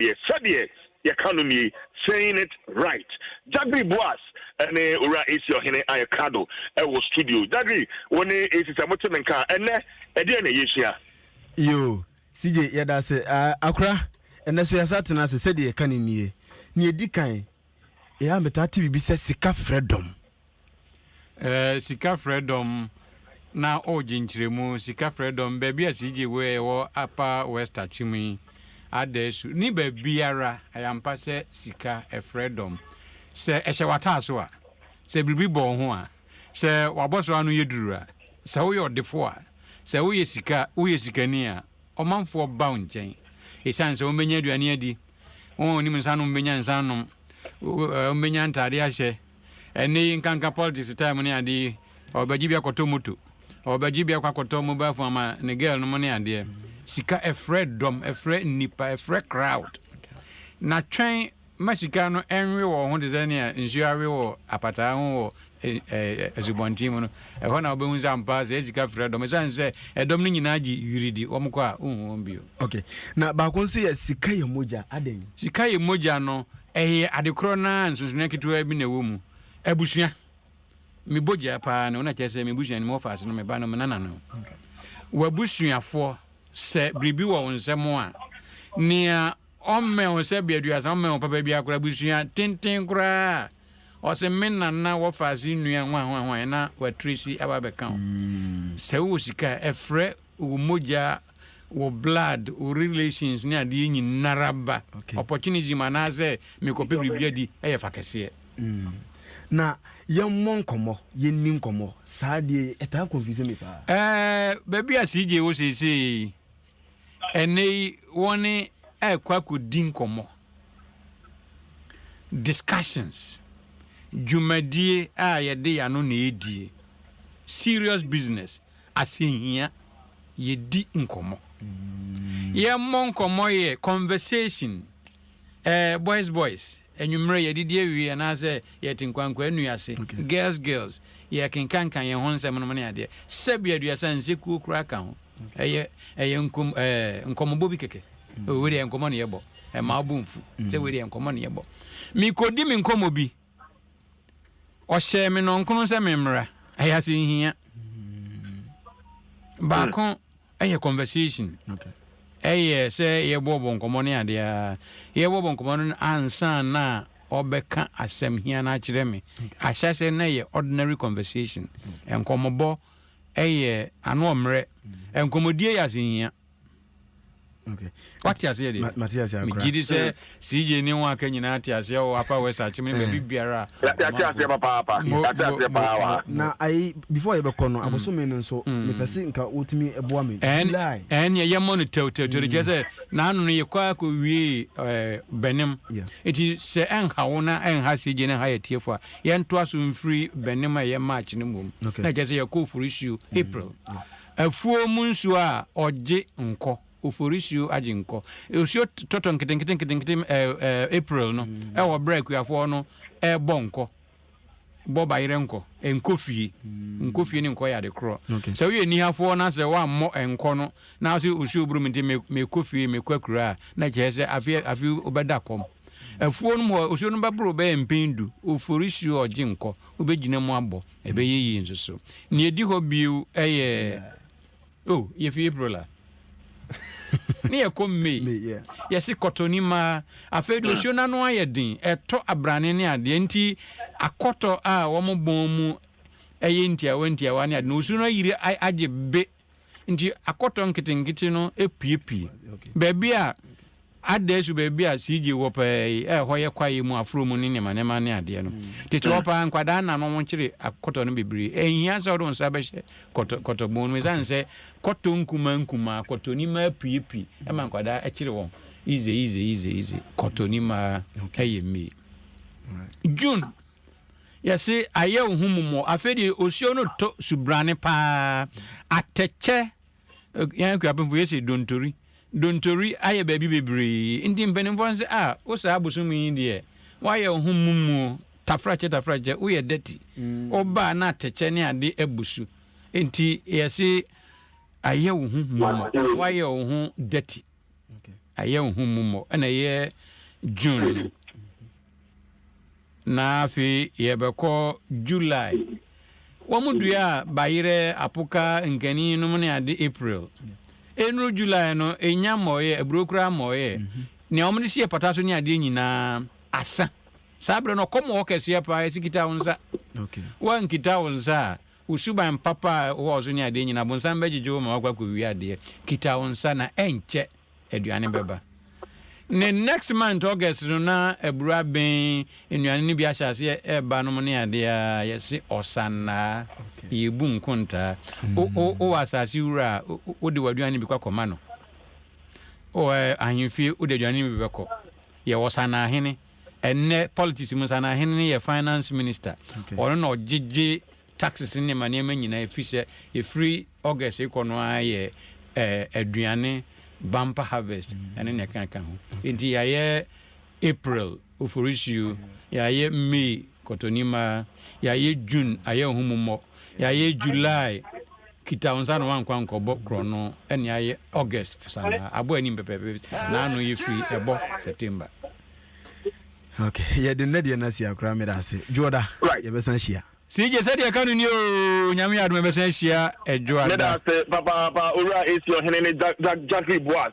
deɛ sɛdeɛ yɛka no nie, saying it right. Jagri Boas ne Owura Esi Ɔhene ayɛ krado wɔ studio. Jagri, wo ne Esi sɛ mote me nka a, ɛnnɛ ɛdeɛn na yɛsua? Yoo, CJ yɛda ase. Ah, Akora, ɛnnɛ nso yɛasan atena ase. Sɛdeɛ yɛka no nie, nea ɛdi kan, yɛa metaa te biribi sɛ sika frɛ dɔm. Eh, sika frɛ dɔm na ɔɔgye nkyerɛmu, sika frɛ dɔm, baabi a CJ wɔ yɛ wɔ Upper West Akyem yi, Adaisu, ne baabiara, ɛyɛ ampa sɛ sika ɛfrɛ dɔm. Sɛ ɛhyɛ w'ataaso a, sɛ biribi bɔ wo ho a, sɛ w'abɔso ano yɛ duru a, sɛ woyɛ ɔdefo a, sɛ woyɛ sika, woyɛ sikani a, ɔmanfoɔ ba wo nkyɛn. Ɛsiane sɛ wɔbɛnya aduane adi, wɔn a wɔnim nsa nom bɛnya nsa anom, wɔbɛnya ntaadeɛ ahyɛ, Ɛnnɛ yi nkanka politics style mu ne ade yi, ɔbɛgye bi akɔtɔ moto, ɔbɛgye bi akɔ akɔtɔ mobile phone ama ne girl nom ne adeɛ. Sika ɛfrɛ dɔm, ɛfrɛ nnipa, ɛfrɛ crowd. Na twɛn ma sika no ɛnwe wɔ wo ho te sɛ nea nsuo awe wɔ apataa ho wɔ asubɔnten mu no, ɛhɔ na wobɛhu sɛ ampa ara saa sika frɛ dɔm. Ɛsiane sɛ ɛdɔm no nyinaa gye wiri di, wɔn kɔ a wonhu wɔn bio. Okay, na baako nso yɛ sika yɛ mogya, adɛn? Sika yɛ mogya no, Ɛyɛ ade korɔ no ara a nsonsonoɛ ketewaa bi na ɛwɔ mu. Abusua. Me bɔ gyaa pa ara ne wo na kyerɛ sɛ me busua no me wɔfase no me ba no me nana no w'abusuafoɔ sɛ biribi wɔ wo nsam a nea ɔmmɛn wo sɛ bɛ aduasa ɔmmɛn wo papa biara koraa abusua tenten koraa a ɔsɛ me nana wɔfase nnua ho ahoahoaeɛ na watresi aba bɛka wo sɛ wowɔ sika a ɛfrɛ wo mogya, wo blood, wo relations ne adeɛ nyinara ba. Okay. Opportunism anaasɛ mekɔpɛ biribi adi yɛ fa kɛseɛ. Mm. Na yɛmmɔ nkɔmmɔ, yɛnni nkɔmmɔ. Saa deɛ ɛtaa confuse me paa. Eh, baabi a CJ wɔ seesei ɛnɛ yi wɔne ɛkɔ akɔdi nkɔmmɔ. Discussions. Dwumadie a yɛde yɛano na ɛdie. Serious business. Asɛnhia, Yɛdi nkɔmmɔ. Yɛmmɔ nkɔmmɔ yɛ conversation, eh, boys boys, anwummerɛ yɛadidi awie anaasɛ yɛte nkwankwaa nnua ase, girls girls, yɛrekenkanka yɛn ho nsɛm nom ne adeɛ. Sɛbi aduasa nsekuo koraa ka ho. Ɛyɛ, ɛyɛ nkɔm, eh, nkɔmmɔbɔ bi kɛkɛ. Oh, wei deɛ ɛyɛ nkɔmmɔ na yɛbɔ. Ɛmma wo bo mfu sɛ wei deɛ ɛyɛ nkɔmmɔ na yɛbɔ. Mekɔdi me nkɔmmɔ bi. Ɔhyɛɛ me nnɔnkono sɛ memmra. Ɛyɛ asɛnhia. Baako yɛ conversation. Ɛyɛ sɛ yɛbɔbɔ nkɔmmɔ ne adeɛ a. Yɛbɔbɔ nkɔmmɔ no ansa na ɔbɛka asɛm hia no akyerɛ me. Ahyɛ aseɛ no na ɛyɛ ordinary conversation. Nkɔmmɔbɔ yɛ ano ɔmmerɛ. Nkɔmmɔdie yɛ asɛnhia. wate aseɛ deɛ megye di sɛ cj ne ho aka nyinaa te aseɛ wɔ apa wɔ sakyem ne baabi biara na ayi before yɛbɛkɔ no abosome no nso mepɛ se nka wotumi boa me ɛneɛ yɛmmɔ no tɛwtɛwtɛw kyerɛ sɛ naano no yɛkɔ akɔ wie bɛnem nti sɛ ɛnha wo na ɛnha cj ne ha yɛ tiefo a yɛntoa so mfiri bɛnem a ɛyɛ march no mmom na kyerɛ sɛ yɛkɔ oforisuo april Afuo mu nsuo a ɔgye nkɔ. Oforisuo agye nkɔ. Osuo tɔtɔ nketenkete nketenkete April no wɔ berɛ a akuafoɔ no rebɔ nkɔ. Bɔ bayerɛ nkɔ. Nkɔ fie. Nkɔ fie ne nkɔ yɛ ade korɔ. Sɛ woyɛ nihafoɔ na sɛ woammɔ nkɔ no na wo se osuo boro me nti mekɔ fie, mekɔ akuraa a, na ɛkyerɛ sɛ afei afei wobɛda kɔm. Afuo no mu hɔ, osuo no bɛboro wo bɛyɛ mpɛn du. Oforisuo ɔgye nkɔ. Wobɛgyina mu abɔ. Ɛbɛyɛ yie nso so. Nea ɛdi hɔ bio yɛ oh yɛfi April a ne yɛkɔ May yɛse kɔtɔ ni maa afei de osuo n'ano ayɛ den ɛtɔ abrane ne adeɛ nti akɔtɔ a wɔn bɔn mu ɛyɛ ntiawa ntiawa ne adeɛ na osuo no ayiri agye be Nti akɔtɔ nketenkete no apuepue. Baabi a adaasu baabi a CJ wɔ paa yi a ɛhɔ yɛ kwaeɛ mu aforɔ mu ne nneɛma nneɛma ne adeɛ no. Tete hɔ paa nkwadaa na no wɔkyere akɔtɔ no bebree. Ɛnhia sɛ wode wo nsa bɛhyɛ kɔtɔ kɔtɔ bɔn mu ɛsiane sɛ kɔtɔ nkumaa nkumaa kɔtɔ nimaa apuepue ɛma nkwadaa ɛkyere wɔn easy easy easy easy kɔtɔ nimaa ɛyɛ mmie. June Yɛse ayɛ wo ho mmɔmɔ. Afei deɛ osuo no tɔ subrane paa. Atɛkyɛ, yɛn Akuapemfo yɛse dontori. Dontori ayɛ baabi bebree. Nti mpanimfoɔ no se ah wo saa bosome yi deɛ woayɛ wo ho mmɔmuo, tafrakyɛ tafrakyɛ, woyɛ dirty. Woba a na atɛkyɛ ne ade abu so. Nti yɛse ayɛ wo ho mmɔmɔ, woayɛ wo ho dirty. ɛyɛ wo ho mmu mmɔ ɛna ɛyɛ june no na afei yɛbɛkɔ july wɔn dua a bayerɛ apoka nkani nom ne ade april ɛnuru july no ɛnya mmɔɔyɛ aburo koraa mmɔɔyɛ mhm. nea wɔn de si yɛ pata so ne adeɛ nyinaa asa saa berɛ no ɔkɔm wɔ kɛseɛ paa ɛsi kita wo nsa woankita wo nsa a Wo suban papa a ɛwɔ ɔsoro ne adeɛ nyinaa, bonsam bɛgyegye wo ma woakɔ akɔwie adeɛ. Kita wo nsa na ɛnkyɛ aduane bɛba. Ne next month August no na aburo aben, nnuane no bi ahyɛ aseɛ ɛreba nom ne adeɛ a, yɛse ɔsannaa, yɛbu nkontaa. Wo wo wowɔ asase wura a, wode w'aduane no bi kɔ akɔma no. Wɔ ahemfie, wode aduane no bi bɛkɔ. Yɛwɔ ɔsannaahene. Ɛnnɛ politics mu saa no ahene no yɛ finance minister. Ɔno na ɔgyegye taxes ne nneɛma nneɛma nyinaa ɛfiri sɛ ɛfiri August rekɔ no ara yɛ aduane bumper harvest ɛne nea ɛkeka ho. Nti yɛayɛ April oforisuo, yɛayɛ May Kɔtɔnima, Yɛayɛ June, ayɛ wo ho mmɔmmɔ. Yɛayɛ July, kita wo nsa na woankɔ ankɔbɔ korɔno ne ayɛ August sanaa. Abɔ anim pɛpɛɛpɛ na ano yɛ firi ɛbɔ September. Ok, yɛde nnɛ deɛ no asi ha koraa, meda ase. Dwoɔda, yɛbɛsan ahyia. CJ, Sɛdeɛ ɛka no nie oo, Nyame yɛ adom yɛbɛsan ahyia Dwoɔda. Meda ase papaapa Owura AC Ɔhene ne Jack Jack Jackery Boaz.